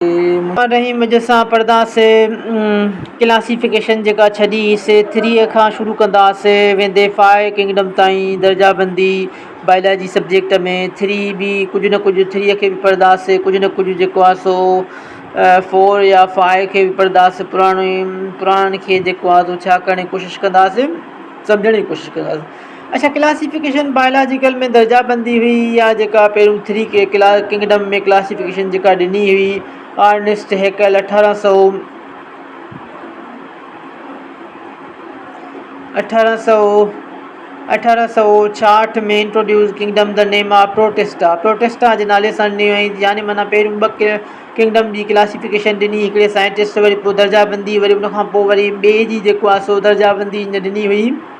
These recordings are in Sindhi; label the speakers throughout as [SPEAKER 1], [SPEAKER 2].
[SPEAKER 1] محمد رحيم وجد سان پڙهنداسين ڪلاسيفڪيشن جيڪا ڇڄي حصي ٿري کان شروع ڪنداسين ويندي فائي ڪنگڊم تائين درجا بندي بائلاجي سبجيڪٽ ۾ ٿري بي ڪجهه نه ڪجهه ٿري کي به پڙهنداسين ڪجهه نه ڪجهه جيڪو آهي سو فور يا فائي کي به پڙهنداسين پراڻي پراڻن کي جيڪو آهي سو ڇا ڪرڻ جي ڪوشش ڪنداسين سمجهڻ جي ڪوشش ڪنداسين اچا ڪلاسيفڪيشن بائلاجيڪل ۾ درجا بندي هئي يا جيڪا پهريون ٿري ڪي ڪنگڊم ۾ ڪلاسيفڪيشن جيڪا ڏني هئي آرنسٽ هيڪل اٺارهن سؤ اٺارهن سؤ ڇاهٺ ۾ introduce kingdom the name of Protista Protista جي نالي سان ڏني هئي يعني معنيٰ پهريون ٻه ڪنگڊم جي ڪلاسيفڪيشن ڏني هڪڙي سائنٽسٽ وري پوء درجا بندي وري ان کان پوء وري ٻئي جي جيڪو آهي سو درجا بندي ڏني هئي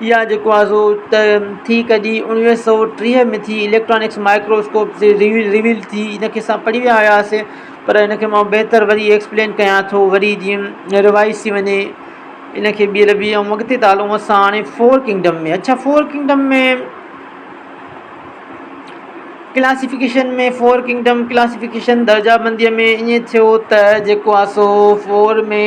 [SPEAKER 1] اها جيڪو آهي سو ته ٿي ڪڍي اڻويهه سئو ٽيهه ۾ ٿي اليڪٽرانڪس مائڪروسڪوپ جي ريويل ريويل ٿي ان کي سڀ پڙهي ويا هياسي پر ان کي مئو بهتر وري ايڪسپلين ڪيان ٿو وري جيئن ريوائز ٿي وڃي ان کي ٻيهر بي ۽ اڳتي ٿا هلون اسان هاڻي فور ڪنگڊم ۾ اڇا four kingdom ۾ classification ۾ four kingdom classification درجا بنديء ۾ ائين ٿيو ته جيڪو آهي سو فور ۾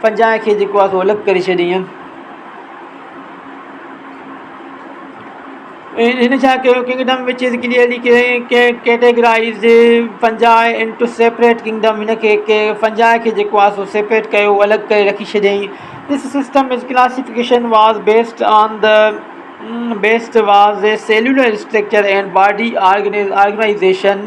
[SPEAKER 1] پنجاهه کي جيڪو آهي سو الڳ ڪري ڇڏيئين. هن ڇا ڪيو kingdom which is clearly categorized پنجاهه انٽو سيپريٽ ڪنگڊم هن کي پنجاهه کي جيڪو آهي سو سيپريٽ ڪيو الڳ ڪري رکي ڇڏيئين thus system is classification was based on the based was the cellular structure and body organization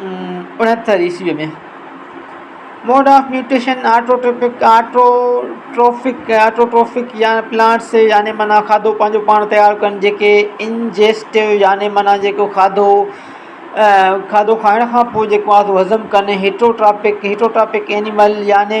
[SPEAKER 1] اڻهتر عيسويء ۾، موڊ آف ميوٽيشن آٽوٽروفڪ يا پلانٽس يعني معنيٰ کاڌو پنهنجو پاڻ تيار ڪن جيڪي انجيسٽو يعني معنيٰ جيڪو کاڌو کاڌو کائڻ کان پوء جيڪو آهي سو هضم ڪن هيٽروٽرافڪ هيٽروٽرافڪ اينيمل يعني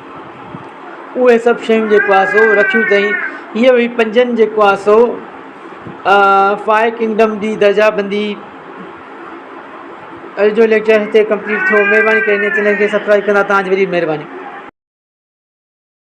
[SPEAKER 1] اهي سڀ شيون جيڪو آهي سو رکيون اٿئي هيء هئي پنجن جيڪو آهي سو فائو ڪنگڊم جي درجا بندي اڄ جو ليڪچر هتي ڪمپليٽ ٿيو مهرباني ڪري هن چينل کي سبسڪرائب ڪندا تان جي وڏي مهرباني